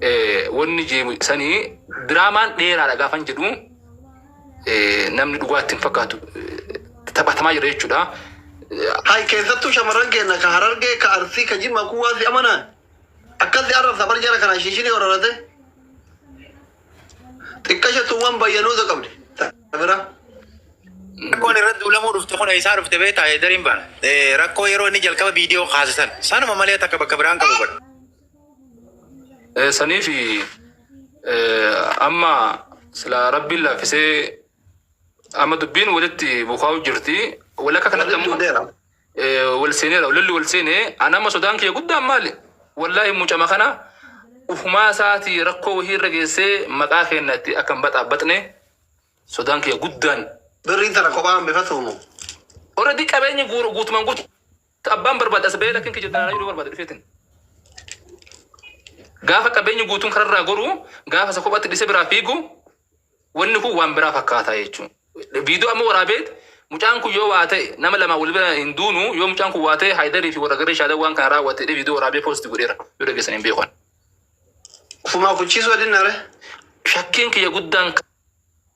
eh, wanni jeemu sani diraamaan dheeraadha gaafan jedhu eh, namni dhugaatti hin fakkaatu eh, taphatamaa jira jechuudha. Eh, Hay keessattuu shamarran keenya ka harargee ka arsii ka jimmaa kun waan si amanaan akkasi arrabsa bar jara kanaa shiishinii horarate xiqqasha tun waan bayyanuusa qabdi. Bira. Rakkoon irratti duulamuu dhufte kun eessaa dhufte beektaa? Eedariin baan. Rakkoo yeroo inni jalqaba viidiyoo kaasisan. Sanuma malee takka bakka biraan qabu bara. Eh, saniifi eh, amma sila rabbiin laaffisee amma dubbiin walitti bukaa'u jirti wal akka kanatti ammoo Dera. eh, wal seeneera lolli wal seenee an amma sodaan kiyya guddaan maali wallaahi mucama kana ufumaa isaatii rakkoo wahii irra geessee maqaa keenyatti akka hin baxaabaxne sodaan kiyya guddaan Birri tana kophaa hambifatu mo. already qabeenyi guur- guutumaan guutu Abbaan barbaade as bahee lakkin kijibdan anayuu barbade dhufetin gaafa qabeenyi guutuun kararraa goru gaafa isa kophatti dhise biraa fiigu wanni kun waan biraa fakkaata jechuun viidiyoo amma waraabeet mucaan kun yoo waa ta'e nama lamaa wal bira hin duunu yoo mucaan kun waa ta'e haayidarii fi warra garee shaalee waan kana raawwate jedhee viidiyoo waraabee poosti godheera yoo dhageessan hin beekan. Ufumaa kuchiisuu adinnaare. Shakkiin kiyya guddaan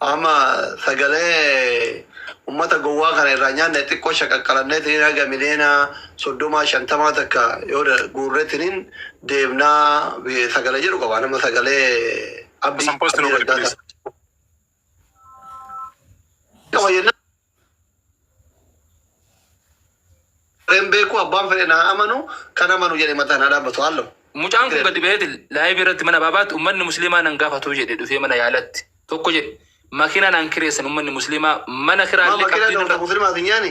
Amma sagalee ummata gowwaa kana irraa nyaanne xiqqoo shaqaqqalanneetiniin haga miliyoona soddomaa shantamaa takka yoo guurretiniin deemnaa sagalee jedhu qaba. Nama sagalee abdii Abdii Raggaasaa. Qaba jennaan. Wareen beekuu abbaan fedhe naa amanu kan amanu jedhe mataan haa dhaabbatu haallo. Mucaan kun gadi ba'eeti live irratti mana baabaatti ummanni musliimaa nan gaafatuu jedhe dhufee mana yaalatti tokko jedhe makiinaa naan kireessan ummanni musliimaa mana kiraallee qabdii nurra. Musliimaa addunyaani?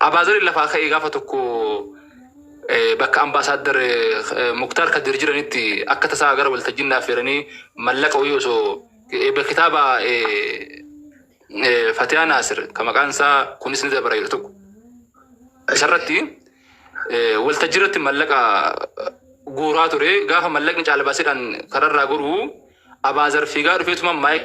Abaazarin lafaa ka'ee gaafa tokko bakka Ambaasaaddar Muktaar Kadir jiranitti akka tasaa gara waltajjii na affeeranii mallaqa wayii osoo eebba kitaaba Fatiyaa Naasir ka maqaan isaa kunis ni dabara jedhu tokko isarratti waltajjii irratti mallaqa guuraa ture gaafa mallaqni caalbaasidhaan kararraa goruu Abaazar fiigaa dhufeetuma maayik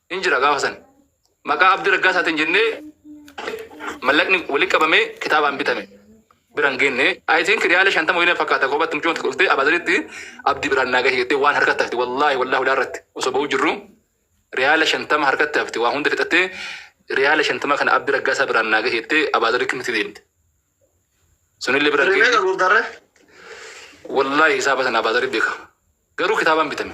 hin jira gaafa san maqaa abdi raggaasaatiin jennee mallaqni walitti qabamee kitaabaan bitame bira hin geenne I think riyaala shantama waliin fakkaata koobatti mucuma tokko dhuftee abaaziritti abdi biraan naa gahe jettee waan harkatti hafte wallaahi wallaahi ulaa irratti osoo ba'uu jirru riyaala shantama harkatti hafte waa hunda fixattee riyaala shantama kana abdi raggaasaa biraan naa gahe jettee abaazirri kimitti deemte sunillee bira hin Hirmee geenne qabuuf darree. wallaahi hisaaba sana abaazirri beeka garuu kitaabaan bitame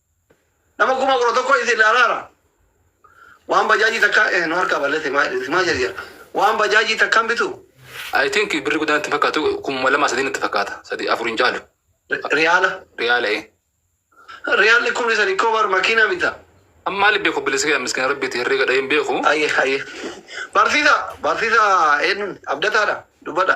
Nama kuma kudha tokko isin ilaalaara. Waan bajaajii takka eh, nu harkaa balleesse maa isin maa jedhe jedha. Waan bajaajii takkaan bitu I think birri guddaan itti hin fakkaatu kuma lama sadii natti fakkaata sadii afur hin caalu ri- riyaala. riyaala ee. Riyaalli kumni sadi koo bar makiinaa bita. Amma maali beeku bilisa kee miskiina rabbiiti herreega dhaheen beeku. Ayyee ayyee. Barsiisa barsiisa eenyuun abdataadha dubbadha.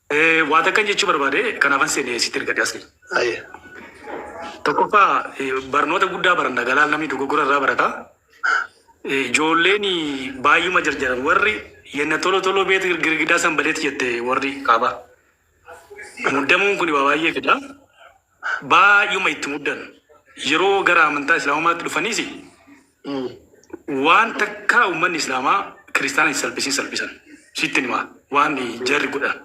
Ee, waa takkan jechuu barbaade kanaafan seene sitti ergadhe asli. Aye. Tokkoffaa eh, barnoota guddaa baranna galaal namni dogoggora irraa barata. Eh, Ijoolleen baay'uma jarjaran warri yenna tolo tolo beet girgidaa san badeet jette warri kaaba. Muddamuun kun waa baay'ee fida. baay'uma itti muddan. Yeroo gara amantaa Islaamummaatti dhufaniis waan takka ummanni Islaamaa Kiristaana hin salphisin salphisan. Sittin himaa waan jarri godhan.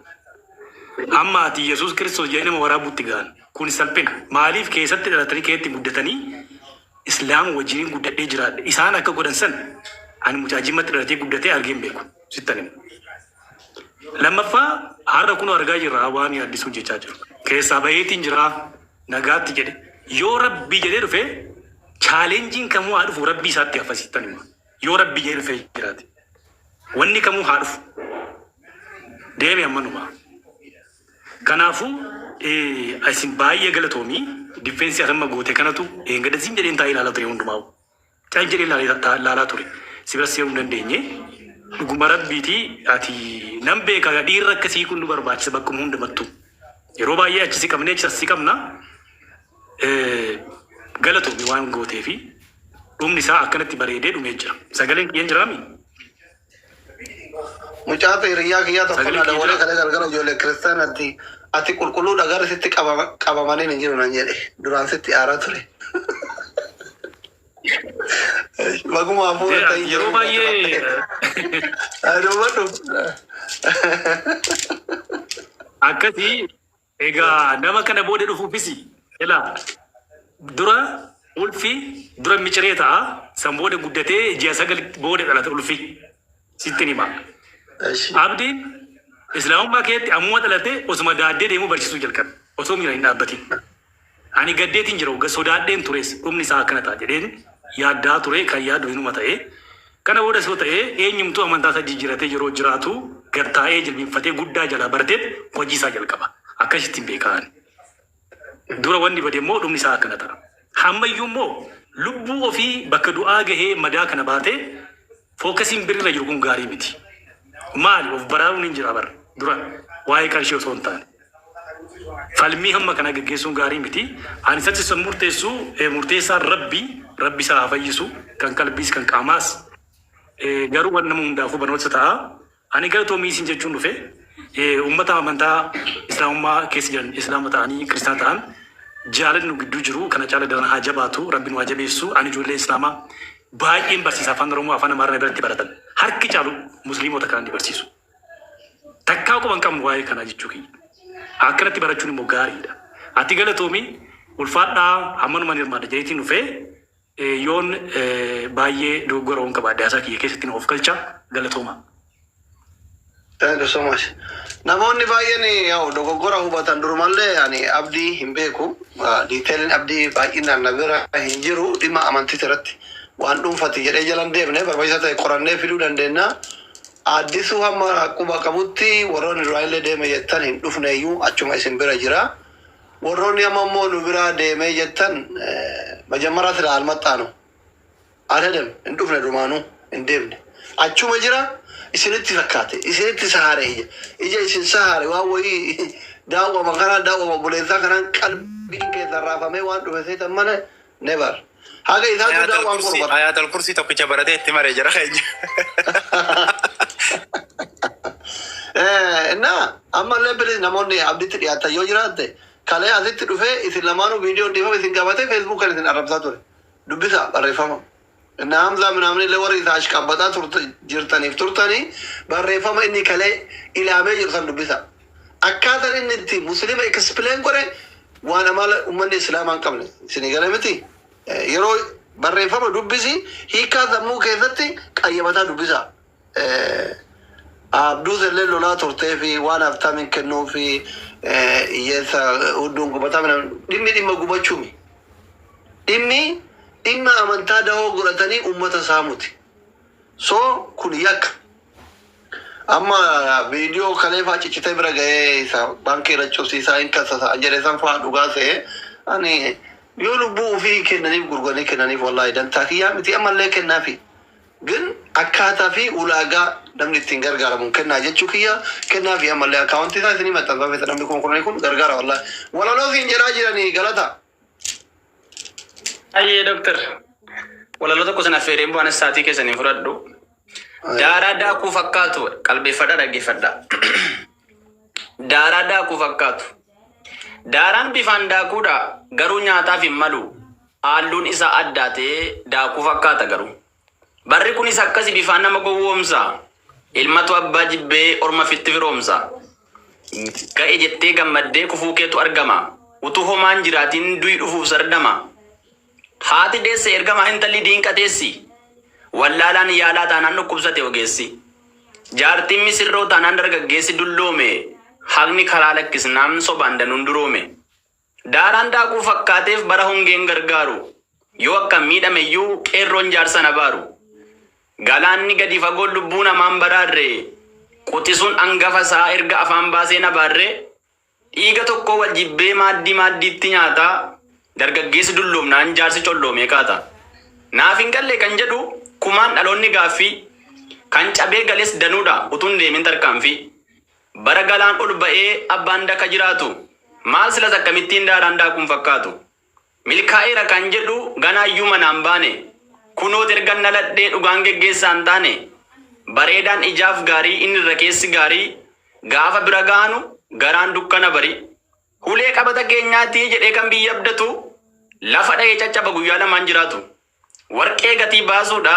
Amma ati Yesuus Kiristoos jedhee nama waraabuutti gahan. Kun salphina. Maaliif keessatti dhalatanii keessatti guddatanii Islaama wajjiniin guddadhee jiraadhe. Isaan akka godhan san ani mucaa jimmatti dhalatee guddatee argee hin beeku. sittan himu. Lammaffaa har'a kunoo argaa jirra waan yaaddisuun jechaa jiru. Keessaa baheetiin jira nagaatti jedhe. Yoo rabbii jedhee dhufe chaalenjiin kamuu haa dhufu rabbii isaatti hafa sittan hima. Yoo rabbii jedhee dhufee jiraate wanni kamuu haa dhufu deeme ammanumaa. Kanaafuu eh, isin baay'ee galatoomii difeensii atamma goote kanatu eeggadha siin jedheen taa'ee ilaalaa ture hundumaa. Cal jedhee laalee ta- laalaa ture. Si bira seenuu hin dandeenye. Dhuguma rabbiiti ati nan beeka gaa dhiirri akka sii kun nu barbaachisa bakkuma hundumattu. Yeroo baay'ee achi si qabnee achi as si qabna. Eh, Galatoomi waan gootee fi dhumni isaa akkanatti bareedee dhumee jira. Sagaleen kiyyan jiraami? Mucaatu hiriyyaa kiyyaa tokko na dawwalee kalee galgala ijoollee kiristaanaatti ati qulqulluudha garri sitti qabama- qabamaniin hin jiru nan jedhe. Duraan sitti aaraa ture. Baguma hafuura Jira, ta'ii yeroo jireenya baay'ee qabatte. Haa dubbadhu. akkasii Egaa nama kana booda dhufuufis ilaa dura ulfi dura miciree ta'a san booda guddatee ji'a sagal booda dhalata ulfi sittin hima Eshi. abdiin islaamummaa keetti ammuma dhalate osuma daaddee deemuu barsiisuu jalqabe osoo miira hin dhaabbatin Ani gaddeetiin jira wagga sodaadheen turees dhumni isaa akkana ta'a jedheen yaaddaa ture kan yaadu hinuma ta'e kana boodas yoo ta'e eenyumtuu amantaa isaa jijjiratee yeroo jiraatu gad taa'ee jilbinfatee guddaa jalaa barteet hojii isaa jalqaba akkasittiin beeka ani dura wanni bade immoo dhumni isaa akkana ta'a hammayyuu immoo lubbuu ofii bakka du'aa gahee madaa kana baatee Fookasiin birri irra jiru kun gaarii miti. Maali of baraaruun hin jira bar dura waa'ee qarshii osoo hin taane. Falmii hamma kana geggeessuun gaarii miti. Ani isatti san murteessu eh, murteessaan Rabbi, Rabbi isaa haa fayyisu kan qalbiis kan qaamaas. Eh, Garuu waan nama hundaafuu barnoota ta'a. Ani galatoomii isin jechuun dhufe. Uummata amantaa Islaamummaa keessa jiran, Islaama ta'anii Kiristaana ta'an jaalalli nu gidduu jiru kana caala daran haa jabaatu, Rabbi nu haa jabeessu. Ani ijoollee Islaamaa baay'een barsiisa, Afaan Oromoo, Afaan Amaaraa na biratti baratan. Harki caalu Musliimota kanan ni barsiisu. Takkaa quba hin qabnu waa'ee kanaa jechuu kiyya. Akkanatti barachuun immoo gaariidha. Ati galatoomi, ulfaadhaa, hammanuman hirmaadha jedheetiin dhufe. Yoon baayyee dogoggora yoon qabaadhe haasaa kiyya keessatti na ofkalchaa. Galatoomaa. Thank you so much. Namoonni baay'een yaw dogoggora hubatan durumallee ani abdii hin beeku detailin abdii baay'inaan na bira hin jiru dhimma amantiis irratti waan dhuunfati jedhee jala hin deemne barbaachisa ta'e qorannee fiduu dandeenya Addisuu hamma quba qabutti warroonni duraanillee deeme jettan hin dhufneeyyuu achuma isin bira jira Worroni amma immoo nu biraa deeme jettan majammara silaa almaxxaanu adadem hin dhufne dumaanu hin deemne achuma jira isinitti fakkaate isinitti sahare ija ija isin sahare waan woyii daawwama kanaan daawwama obboleessaa kanaan qalbiin keessan raafamee waan dhufe seetan mana Never. Haga isaa duudaa Ayaatal waan kursii qorba. ayaatal kursii tokkicha baratee itti maree jira keenya. Eh, Innaa ammallee bilis namoonni abditti dhiyaatan yoo jiraatte kalee asitti dhufee isin lamaanuu viidiyoon dhiifama isin gaafate feesbuukan isin arrabsaa ture. Dubbisa barreeffama. Inna Hamzaa minaaminillee warri isa ashqabbaxaa turta jirtaniif turtanii barreeffama inni kalee ilaamee jiru san dubbisaa. Akkaatan inni itti Muslima explain godhe waan amala ummanni Islaamaa hin qabne. Isinii gale miti? Yeroo barreeffama dubbisi hiikkaa sammuu keessatti qayyabata dubbisaa. Abduus illee lolaa turtee fi waan Habtaamiin kennuu fi hiyyeessa hudduun gubataa midhaan dhimmi dhimma gubachumi. Dhimmi dhimma amantaa dahoo godhatanii ummata saamuti. So kun yakka. Amma viidiyoo kalee faa ciccitee bira gahee isa baankii irra cufsiisaa hin kassasa an jedhe san faa dhugaa se'e ani yoo lubbuu ufii kennaniif gurguranii kennaniif wallaahi dantaa kiyyaa miti ammallee kennaafi. Bin akkaataa fi ulaagaa namni ittiin gargaaramuun kennaa jechuu kiyya kennaa fi ammallee account isaa isinii maxxansaa feeta namni kuma kudhanii kun gargaara wallahi walaloo siin jedhaa jiranii galataa. Hayyee Doktar walaloo tokko sin affeereen boo anis saatii keessan hin fudhadhu. Daaraa daakuu fakkaatu qalbeeffadhaa dhaggeeffadhaa. Daaraa daakuu fakkaatu. Daaraan bifaan daakuudha garuu nyaataaf hin malu. Haalluun isaa addaatee daakuu fakkaata garuu. Barri kunis akkasi bifaan nama gowwoomsa. Ilmatu abbaa jibbee orma fitti firoomsa. Ga'e jettee gammaddee kufuu keetu argama. Utuu homaa hin jiraatiin du'i dhufuuf sardama. Haati deesse ergamaa intalli diinqa teessi. Wallaalaan yaalaa taanaan dhukkubsate ogeessi. Jaartiin misirroo taanaan dargaggeessi dulloome. Haqni karaa lakkisnaan sobaan danuun duroome. Daaraan daakuu fakkaateef bara hongeen gargaaru Yoo akkan miidhame iyyuu qeerroon jaarsan abaaru Galaanni gadi fagoon lubbuu namaa hin baraarre Quxisuun angafa isaa erga afaan baasee hin abaarre Dhiiga tokkoo wal jibbee maaddii maaddiitti nyaata Dargaggeessi dulloomnaan jaarsi colloomee kaata Naaf hin galle kan jedhu kumaan dhaloonni gaaffii Kan cabee gales danuudha utuu hin deemin tarkaanfii Bara galaan ol ba'ee abbaan daka jiraatu. Maal silas akkamittiin daaraan daakuun fakkaatu. Milkaa'eera kan jedhu ganaayyuu manaan baane. Kunoot ergan dhaladhee dhugaan geggeessaan taane. Bareedaan ijaaf gaarii inni irra keessi gaarii. Gaafa bira gaanu garaan dukkana barii. Hulee qabata keenyaati jedhee kan biyya abdatu. Lafa dha'ee caccaba guyyaa lamaan jiraatu. Warqee gatii baasuu dha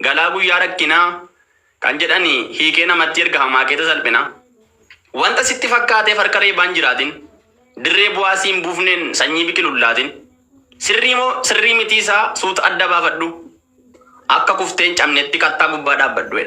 galaa guyyaa rakkinaa kan jedhan hiikee namattii erga hamaakeeta salphinaa. Wanta sitti fakkaateef harka reebaan jiraatin, dirree bu'aa si hin buufneen sanyii biqilu hin laatin. Sirrii moo sirrii mitii isaa suuta adda baafadhu, akka kuftee hin cabnetti kattaa gubbaa dhaabbadhu.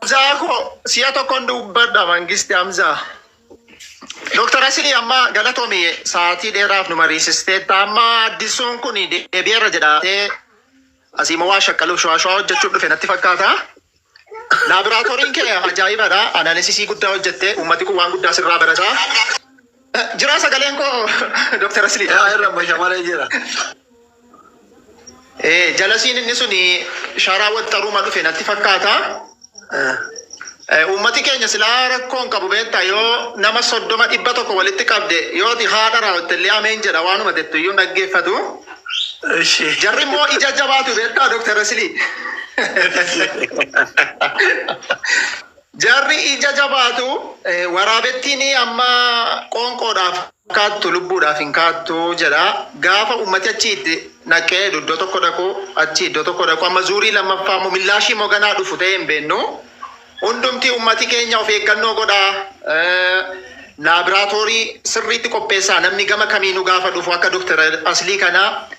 Hamzaa koo si'a tokkon dubbadha mangisti Hamzaa. Dooktar Asilii amma galatomi sa'aatii dheeraaf nu mariisisteetta. Amma addisuun kun deebi'eera jedhaatee asii immoo waa shaqqaluuf shawaa shawaa hojjechuuf dhufe natti fakkaata. Laaboraatooriin kee ajaa'ibadha. Analisisii guddaa hojjettee uummati kun waan guddaa sirraa barata. Jiraa sagaleen koo Dr. Asli. Yaa irra basha malee jira. Ee jalasiin inni suni sharaa waxxaruma dhufe natti fakkaata. Eh, Uummati keenya silaa rakkoon qabu beektaa yoo nama soddoma dhibba tokko walitti qabde yooti haadha raawwatte illee ameen jedha waanuma jettu iyyuu hin dhaggeeffatu. Ishi. Jarri immoo ija jabaatu beektaa Dr. Asilii. Jarri ija jabaatu, waraabettiin amma qoonqoodhaaf kaattu lubbuudhaaf hin kaattu jedha. Gaafa ummati achi itti naqee iddoo tokko dhaqu, achi iddoo tokko dhaqu, amma zuurii lammaffaa immoo millaashii immoo ganaa dhufu ta'ee hin beennu. Hundumti ummati keenya of eeggannoo godhaa, laabraatoorii sirriitti qopheessaa namni gama kamiinuu gaafa dhufu akka Dr. Aslii kanaa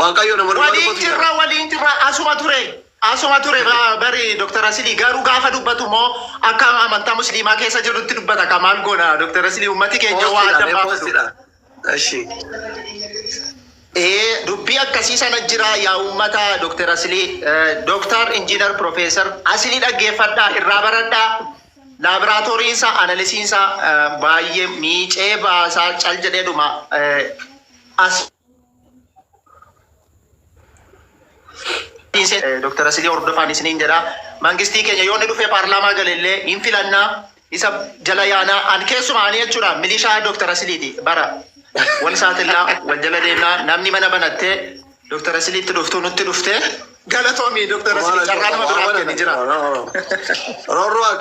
Waaqayyo nama dhugaa Waliin dubbatu jirra jaalata. waliin jirra asuma ture asuma ture ba- bari Dr. Rasilii garuu gaafa dubbatu immoo akka amantaa musliimaa keessa jirrutti dubbata ka maal goona Dr. Rasilii ummati keenya waa Poostidha adda mee baafatu. poostidha. Eshi. Ee dubbii akkasii sana jira yaa uummata Dr. Asilii Dr. Injiinar Profeesar Asilii dhaggeeffadhaa irraa baradhaa laaboraatooriinsa analisiinsa baay'ee miicee baasaa cal jedhee dhuma as Dr. Asilii hordofaan isiniin jedha. Mangistii keenya yoo inni dhufee paarlaamaa gale illee hin filannaa isa jala yaanaa an keessumaa ani jechuudha milishaa Dr. Asiliiti bara wal saaxillaa wal jala deemnaa namni mana banattee Dr. Asiliitti dhuftuu nutti dhuftee galatoomi Dr. Asilii carraa nama biraaf kenni jira. Rorroo